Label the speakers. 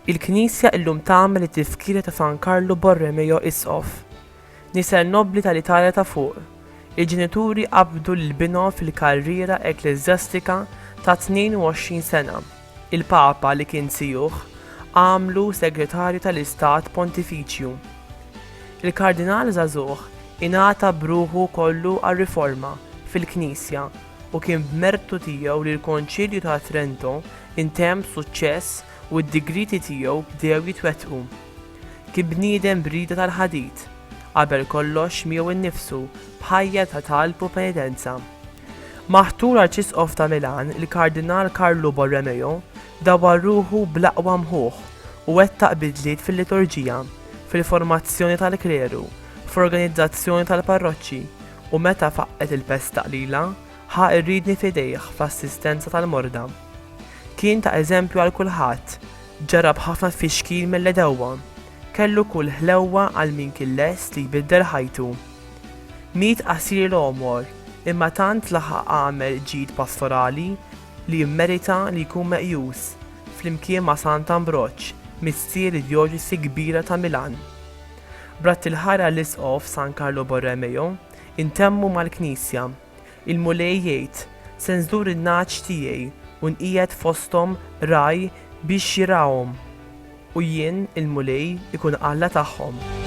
Speaker 1: Il-Knisja illum tagħmel it-Tifkira ta' San Karlu Borromeo Isqof. Nisa nobbli tal-Italja ta' fuq, il-ġenituri qabdu lil binhom fil-karriera ekkleżjastika ta' 22 sena. Il-Papa, li kien sijuħ, għamlu Segretarju tal-Istat Pontifiċju. Il-Kardinal żagħżugħ ingħata b'ruħu kollu għar-riforma fil-Knisja u kien b'mertu tiegħu li l-Konċilju ta' Trento ntemm b'suċċess u d-digrieti tiegħu bdew jitwettqu. Kien bniedem b'rieda tal-ħadid, qabel kollox miegħu innifsu, b'ħajja ta' talb u penitenza. Maħtur Arċisqof ta' Milan, il-Kardinal Carlo Borromeo dawwar ruħu bl-aqwa mħuħ u wettaq bidliet fil-liturġija, fil-formazzjoni tal-kleru, f'organizzazzjoni tal-parroċċi, u meta faqqgħet il-Pesta Qlila, ħa r-riedni f'idejh fl-assistenza tal-morda. Kien ta' eżempju għal kulħadd, Ġara b'ħafna tfixkil mill-għedewwa. Kellu kull ħlewwa għal min kien lest li jbiddel ħajtu. Miet qasir l-għomor, imma tant laħaq għamel ġid pastorali li jimmerita li jkun meqjus, flimkien ma' Sant Ambroġ, missier id-djoċesi kbira ta' Milan. B'radd il-ħajr għall-Isqof San Carlo Borromeo, intemmu mal-Knisja. Il-Mulej jgħid, Se nżur in-nagħaġ tiegħi u nqiegħed fosthom ragħaj biex jirgħahom, u jien, il-Mulej, ikun Alla tagħhom.